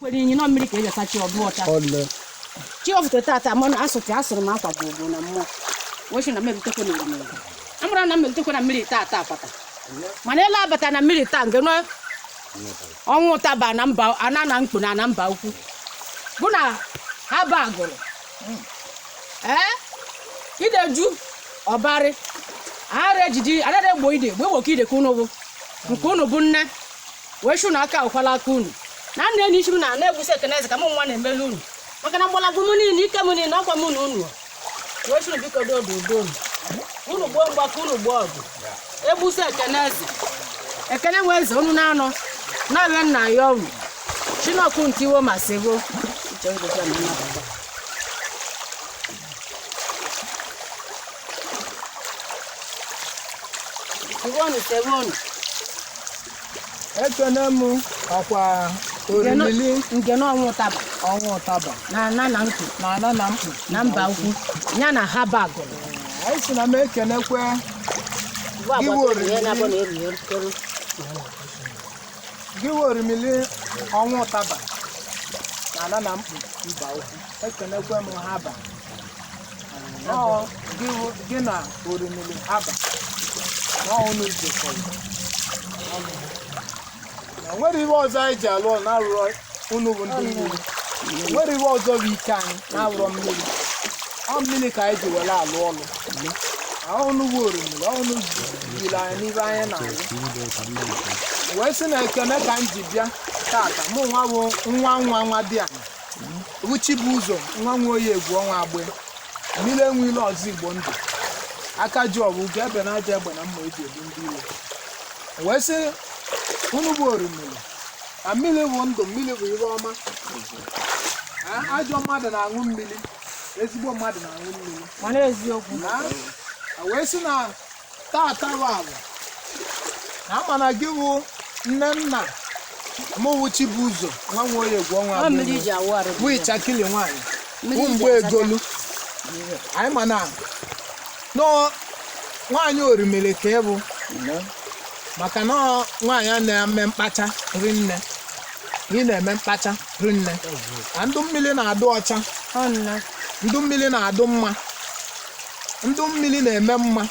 kwere inyi na ọ mmiri ka eji asacha ọ dụ ọcha chi ọfụta tata mmanụ asụtụ asụrụ m akwa gbogbo na mmụọ wee sị na mmebitekwe na orimiri amara na mmebitekwe na mmiri tata pata mana ele abata na mmiri taa nke nọ ọnwụ ụtaba na mba ana Namkpu na na Mbaukwu bụ na Haba Agụlụ ee ide ju ọbarị ara ejidi anaghị egbo ide egbo oke ide ka unu bụ nke unu bụ nne wee sị na aka awụkwala aka unu na nna anyị siri na ana egbusi ekene eze ka mụ nwa na-emelu unu maka na mgbọrọgwụ m niile ike m niile ọkwa m na unu wee sị unu biko dodo udo unu unu gboo mgba ka unu gboo ọgụ egbusi ekene eze ekene nwe eze unu na-anọ na-arịọ nna ya unu chinọkụ ntiwo ma sigo Uche ngwụcha na nnabata. Iwonu sewonu ekene m ọkwa orimili nke na ọnwụ ụtaba ọnwụ ụtaba na ana na nkụ na ana Namkpu na Mbaukwu ya na Haba Agụlụ anyị si na m ekenekwe gị wụ orimili ọnwụ ụtaba na ana Namkpu Mbaukwu ekenekwe m Haba gị na orimiri Haba na unu jikọrọ na nwere ihe ọzọ anyị ji alụ ọrụ na-arụrọ unu bụ ndị mmiri nwere ihe ọzọ bụ ike anyị na-arụrọ mmiri ọ mmiri ka anyị ji were alụ ọrụ unu bụ orimiri unu jiri anyị n'ibe anyị na-alụ wee sị na ekene ka m ji bịa tata mụ nwa bụ nwa nwa nwadịanị bụ Chibuzo nwa Nwoye egwu ọnwa agbe mmiri enwe ilo ọzọ Igbo ndụ aka ji ọbụ ugo ebe na aja egbe na mma eji egbu ndị iro wee sị unu bụ orimiri na mmiri bụ ndụ mmiri bụ ihe ọma ajọ mmadụ na-aṅụ mmiri ezigbo mmadụ na-aṅụ mmiri mana eziokwu na a wee sị na tata bụ ala na a ma na gị wụ nne nna mụ wụ Chibuzo nwa Nwoye egwu ọnwa Ọ mmiri ji awụ arụ. bụ ịchakili nwaanyị Mmiri bụ ji mgbe achacha. egolu anyị ma na ọ nwaanyị orimiri ka ị bụ maka na ọ nwaanyị a na-eme mkpacha rinne ị na-eme mkpacha rinne na ndụ mmiri na-adụ ọcha Ọ nna. ndụ mmiri na-adụ mma ndụ mmiri na-eme mma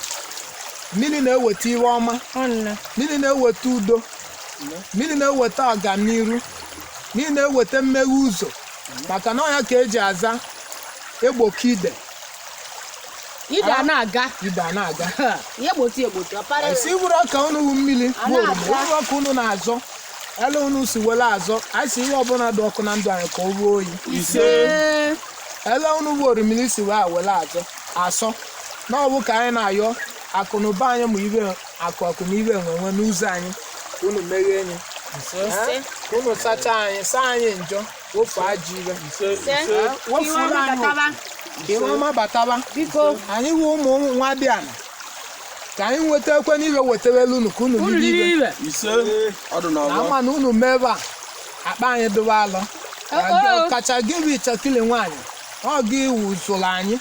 mmiri na-eweta ihe ọma ọnna mmiri na-eweta udo mmiri na-eweta ọganiru mmiri na-eweta mmeghe ụzọ maka na ọ ya ka eji aza egboka ide ije a na-aga ide a na-aga ihe gbochi egbochi ọpara esi bụrụ ọka unu wu mmiri A bụ oroma na-aza. uru ọka unu na-azọ ele unu si were azọ anyị si ihe ọbụla dị ọkụ na ndụ anyị ka o ruo oyi ise ele unu bụ orimiri si wee were azọ asọ na ọ wụ ka anyị na-ayọ akụnụba anyị ma ihe akụ akụ na ihe enwe enwe n'ụzọ anyị ka unu meghee anyị Eh? ka unu sachaa anyị saa anyị njọ wofu ajọ ihe Eh? wofuru anyị oku. ka ihe ọma bataba biko anyị wụ ụmụ nwadiana ka anyị nwetekwenụ ihe wetawelu unu ka unu unu riri riri ihe ihe ise ọdụ na na ọgbọ ama na unu mebe a akpa anyị dụwa alọ Ọ- ọ. kacha gị bụ ichekili nwaanyị ọ gị iwu zụrụ anyị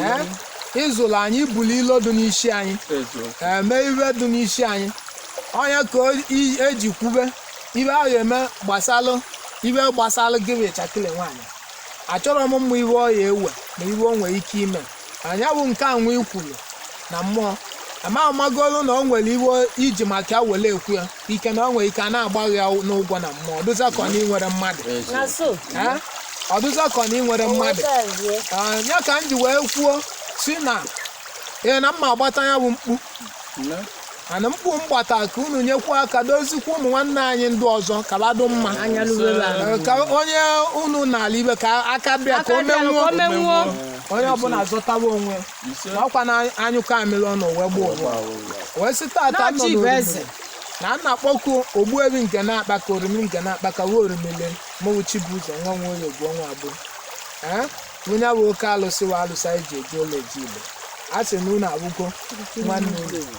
ee ịzụrụ anyị ibuli ilo dị n'isi anyị ee, mee ihe dị n'isi anyị onye ka o- i- eji kwube ihe a ga-eme gbasalụ ihe gbasalụ gị bụ ichekili nwaanyị achọrọ m ịma ihe ọ ya-ewe na ihe o nwere ike ime nya bụ nke anwa ikwuru na mmụọ ama amagolu na o nwere ihe i ji maka ya were ekwu ya ike na ọ nwere ike a na-agbaghị ya n'ụgwọ na mmụọ ọ dụzị ka ọ na i nwere mmadụ na so Eh? ọ dụzị ka ọ na i nwere mmadụ nwetazie Ah, ya ka m ji wee kwuo si na ee na mma agbata ya bụ mkpu ana mkpu mgbata ka unu nyekwa aka dozikwa ụmụ nwanne anyị ndị ọzọ ka badụ mma anya lụwere ala Eh, ka onye unu n'ala ibe ka aka bịa ka aka o dị ala ka menwuo o menwuo onye ọbụla zọtawa onwe ọkwa na a nyụkọ amịrị ọnụ wee gbuo ụwa wee sị tata nọ N'ọchị bụ eze. n'orumili na a na-akpọku ogbuefi nke na-akpa ka orimi nke na-akpa ka ruo orimili mụwụ chibuzo nwa nwa oyi ogbuo nwa abụ ee onye bụ oke alụsị wa alụsị anyị ji eji ụlọ eji igbo a sị na unu abụgo nwanne unu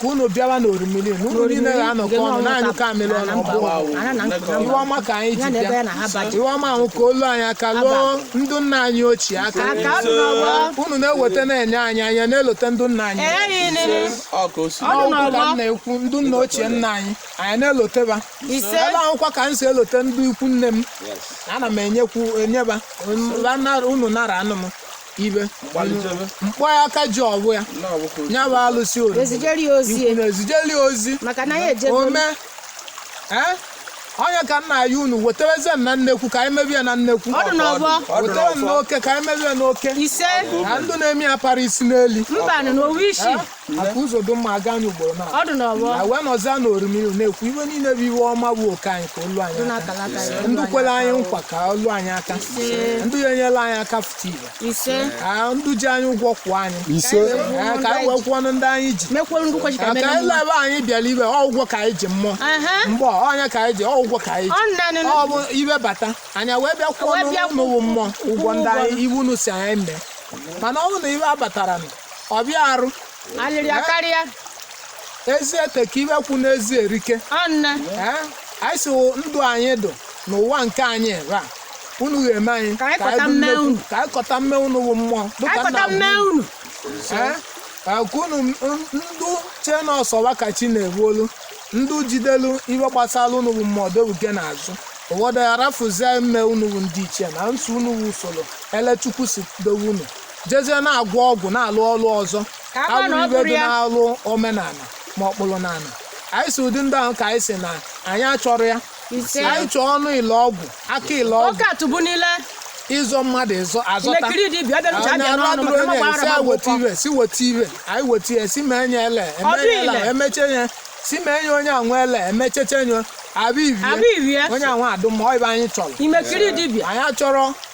ka unu bịawa n'orimiri na unu niile ga-anọkọ ọnụ na-anyụkọ amịrị ọnụ ọ bụ ihe ọma ka anyị ji bịa ihe ọma ahụ ka o lu anyị aka luo ndụ nna anyị ochie aka unu na-eweta na-enye anyị anyị na-elote ndụ nna anyị ọkụ ka m na-ekwu ndụ nna ochie nna anyị anyị na-eloteba ebe ahụkwa ka m si elote ndị ikwu nne m ana m enyekwu enyeba unu nara anụ m ibe mgbalịchebe mkpọ ya aka ji ọgwụ ya na ọbụkọ ya bụ alụsị orimiri ezijere ya ozi ikwu na-ezijeli ya ozi maka na ya ejego ome ee onye ka nna ya unu wetereze m na nnekwu ka anyị mebie ya na nnekwu Ọ dị n'ọgbọ. wetere m n'oke ka anyị mebie ya n'oke ise na ndụ na-eme ya para isi na-eli mbanụ na ọ wụ isi Eh? maka ụzọ dị mma aga anyị ugboro na ọ dị n'ọgbọ na wee nọzie na orimiru na-ekwu ife niile bụ ife ọma bụ oke anyị ka o lu anyị aka ndị kwere anyị nkwa ka o lu anyị aka ndị ya enyela anyị aka fụta ife ise ka ndị ji anyị ụgwọ kwụọ anyị ise Ee, ka anyị wee kwụọ ndị anyị ji mekwere ndị kwachi ka ka emere anyị mma lebe anyị bịara ibe ọ ụgwọ ka anyị ji mmụọ Aha. mgbe ọ, ọnya ka anyị ji ọ ụgwọ ka anyị ji ọ nanị ọ bụ ife bata anyị wee bịa kwụọ Wee bịa n'ụlọ mmụọ ụgwọ ndị anyị iwu unu si anyị mee mana ọ bụrụ na ife abatara nụ ọ bịa arụ alịrị ya karịa ezi eteka ife kwu n'ezi erike ọnne Ee, anyị si ndụ anyị dụ n'ụwa nke anyị ebe a unu ga-eme anyị Ka anyị kọta bụ mme nnekwu- unu. ka anyị kọta mme unu bụ mmụọ dịka akọta nna mme bụ- unu Ee, ka unu m- ndụ chee na ọ sọ wa ka chi na-efolu ndụ jidelu ife gbasara unu bụ mmụọ dobuge n'azụ ụfọdụ arafuzie mme unu bụ ndị ichie na nsọ unu bụ usoro ele Chukwu si dowe unu jezie na-agwọ ọgwụ na-alụ ọrụ ọzọ Ka a gwa na ọ alụrụ ife bụrụ dị ya. na-alụ omenala ma ọ kpụrụ n'ala anyị si ụdị ndị ahụ ka anyị si na anyị achọrọ ya Ise. anyị chọọ ọnụ ile ọgwụ aka ile ọgwụ Ọka tụbu niile. ịzọ mmadụ ịzọ azọta Ilekiri dị ibi, ọ bịara uche Onye abịa n'ọnụ, arụ maka adịrị na onye, si gbara anyị weta agbụgbọ. ife si weta ife anyị weta ya si mee nye ele eme Ọdụ nye ele ile. emeche nye si mee nye onye anwa ele emecheche nye abụ Abụ ibie. ibie onye anwa adụ mma ọ ife anyị chọrọ Imekiri dibịa. anyị achọrọ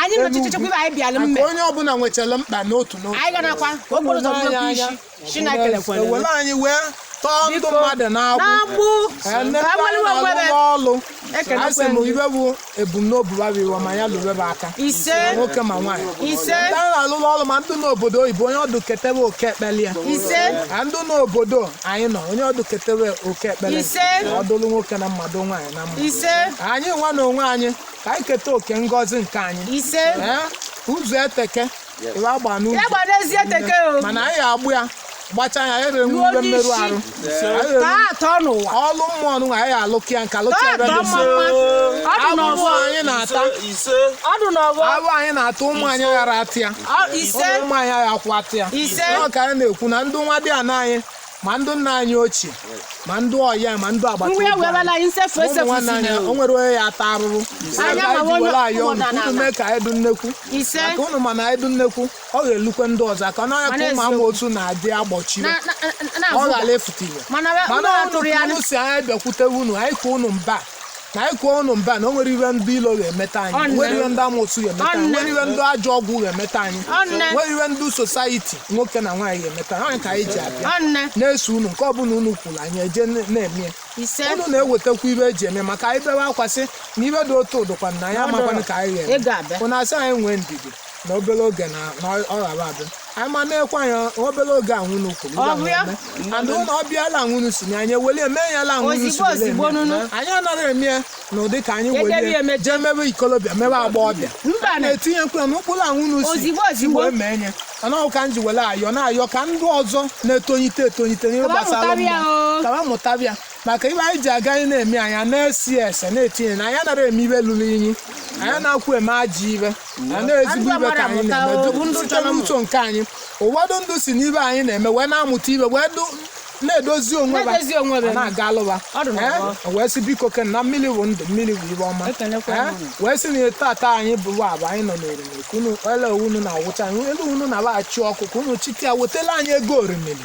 anyị nọ chichechekwa ife anyị bịara mme onye ọbụla nwechara mkpa n'otu n'otu anyị ganakwa ka okporo ụzọ bụrụ okwu isi chineke lekwere ewere anyị wee tọọ ndụ mmadụ n'agbụ n'agbụ ọlụ a sị m ife bụ ebumnobi babiwa ma ya lụrụ ebe aka ise nwoke ma nwaanyị ise ndị a na-alụrụ ọrụ ma ndị n'obodo oyibo onye ọ dụ ketebe oke ekpeli ya ise ka ndị n'obodo anyị nọ onye ọ dụ ketebe oke ekpeli ise ọ dụlụ nwoke na mma dụ nwaanyị na mma ise anyị nwa na onwe anyị ka anyị keta oke ngọzi nke anyị ise Ee, ụzọ eteke ịwa agba ya n'ubi gbara ezi eteke o mana anyị agba ya gbacha ya ebe Ruo nwe mmerụ n'isi. arụ Anyị ka a atọ n'ụwa ọlụ mmụọ nụ anyị alụkị ya nka lụkị Ka ebe atọ dị mma mma ọ dị afụfụ n'ọgbọ anyị na-ata ise ọ dị n'ọgbọ afụfụ anyị na-ata ụmụ anyị ghara ata ya ọ- ise ụmụ anyị aghakwọ ata ya ise Ọ ka anyị na-ekwu na ndị nwadiana anyị ma ndị nna anyị ochie ma ndị ọya ma ndị agbata obi anyị o nwere onye ya ata arụrụ jiwere anyị ọnụ unu mee ka anyị dụ nnekwu maka unu ma na anyị dụ nnekwu ọ ga-elukwe ndị ọzọ aka n'ọnya ka ụmụ ama otu na-adị agbochiri ọ ghara efute ife mana unu si anyị bịakwute unu anyị ka unu mba na anyị kụọ unu mba na o nwere ihe ndị ilo ga-emeta anyị Ọ nne. nwere ihe ndị amosu ga-emeta Ọ anyị nne. nwere ihe ndị ajọ ọgwụ ga-emeta anyị Ọ nne. nwere ihe ndị society nwoke na nwaanyị ga-emeta anyị ka anyị ji abịa Ọ nne. na-eso unu nke ọbụla unu kwuru anyị eje na- na-eme ya. Ise. unu na-ewetakwa ife e ji eme maka anyị bewe akwa sị na ife dị otu ọ dụkwa na anyị Ọ amakwanụ dụrụ. ka anyị Ị ga-abịa. ga-eme unu asị anyị nwee ndidi na obere oge na ọ ga-abịa anyị ma na-ekwe anyị obere oge a nwunu kwuru and na ọ bịala nwunu si na anyị eweli eme ya la nwunu si anyị anaghị eme ya na ụdị ka anyị weli jee mebe ikolobịa mebe agbọghọbịa na-etinyekwa n'ụkpụrụ a nwunu si wee mee ya mana ọ ka m ji were ayọ na-ayọ ka ndị ọzọ na-etonyite etonyite n'ihe gbasara mmụọ ka ba mụtaba ya maka ive anyị ji aga anyị na-eme anyị na-esi ese na-etinye na anyị anaghị eme ive lụrụ inyi anyị anaghịkwa eme ajọ ive na ezigbo ive ka anyị na-eme site n'uto nke anyị ụfọdụ ndị si n'ive anyị na-eme wee na-amụta ive wee na-edozi onwe ha na-aga alụba wee sị biko kene na mmiri bụ ndụ mmiri bụ ive ọma wee sị na tata anyị bụ abụ anyị nọ n'orimiri ka unu ele unu na-awụcha anyị elu unu na-abaghachị ọkụ ka unu chite ya wetela anyị ego orimiri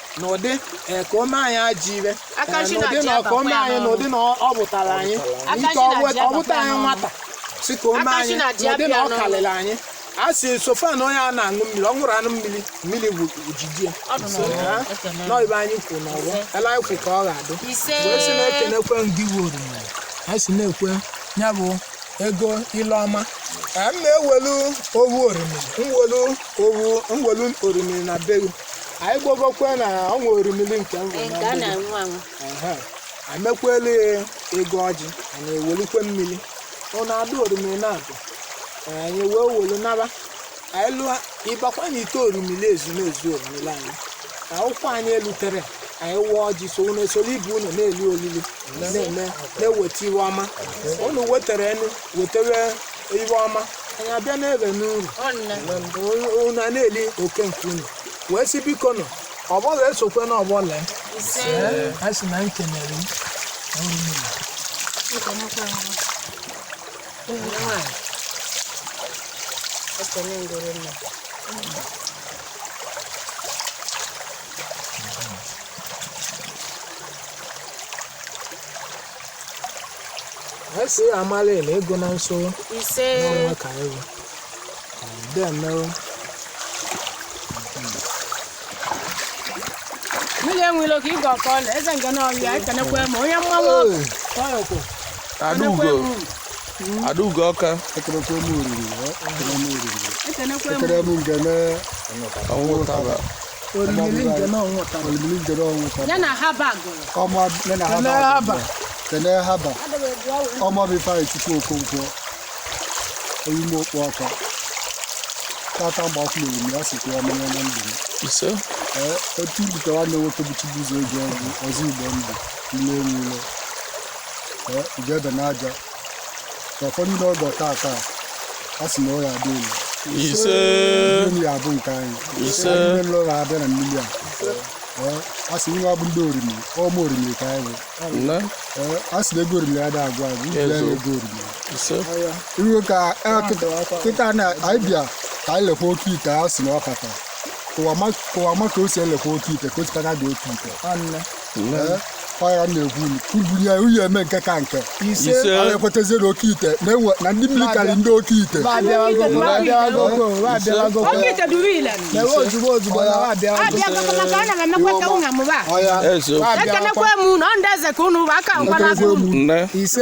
na ụdị ka o mee anyị ajọ ive na ụdị ka o mee anyị na ụdị na ọ bụtara anyị ike ọ bụta anyị nwata si ka o mee anyị na ụdị na ọ karịrị anyị a si sofa na onye a na-aṅụ mmiri ọ ṅụrụ anụ mmiri mmiri bụ ojiji ya na ive anyị kwuru na ọ ga-ele anyị kwuru ka ọ ga-adị ise wee sị na-ekenekwe ndị owu orimiri anyị si na-ekwe ya bụ ego ile ọma ka m na-ewelu owu orimiri m welu owu m welu orimiri na be gị anyị gbogokwe na ọ nwere orimili nke amekwelu ya ego ọjị anyị ewelukwe mmiri ọ na-adụ orimiri na-abụ anyị wee welu naba anyị lụọ ịbakwa na ite orimiri ezumezu orimiri anyị na ụkwụ anyị elutere anyị waa ọjị so unu esoro ibe unu na-eli olili na-eme na-eweta ive ọma unu wetara unu wetewe ive ọma anyị abịa n'ebe n'uru unu a na-eli oke nke unu wee sị biko nọ ọbọla esokwe na ọbọla a sị na m kenere anyị si ya amala ele ego na nso ise n'ọnwa ka anyị bụ ndị emerụ mmiri enwere oke ịga ọkọ ọla eze Ngene ọhịa ekenekwa ma onye mmanwụ ọkụ Adaugo Adaugo ọka ekenekwa m orimiri ekenekwa ekene m Ngene ọnwụ taba orimiri Ngene ọnwụtara olimiri Ngene ọnwụta ya na Haba kene Haba ọ mụ bụ Ifeanyịchukwu Okonkwo oyime okpu ọka tata Mbaukwu na orimiri ya sikwa ya mere na ndụ m ise otu bute nwanne nwoke bụ Chibuzo eji ọgwụ ọzọ igbo ndụ nne nwụrụ ije ebe n'aja ụfọdụ ndị ọgọ tata a sị na ọ ya adị elu ise mmiri ya abụ nke anyị Ise. Anyị niile ụlọ abịa na mmiri a Ee, a sị nwa bụ ndị Orimiri ụmụ Orimiri ka anyị bụ nne Ee, a sị na ego Orimiri adị agwụ agwụ iji ya na ego Orimiri ise iwe ka ee, kịta- kịta na anyị bịa ka anyị lekwa oke ite a sị na ọ kata kụwa ma ka o si elekwa oke ite ka o sikata dị oke ite ọya na-ekwu kubunye uye eme nke ka nke ise ekwetazie na oke ite na-enwe na ndị mmiri karị ndị oke ite ekenekwe m na ndị eze ka unu bụ aka nkwa na aka unu ise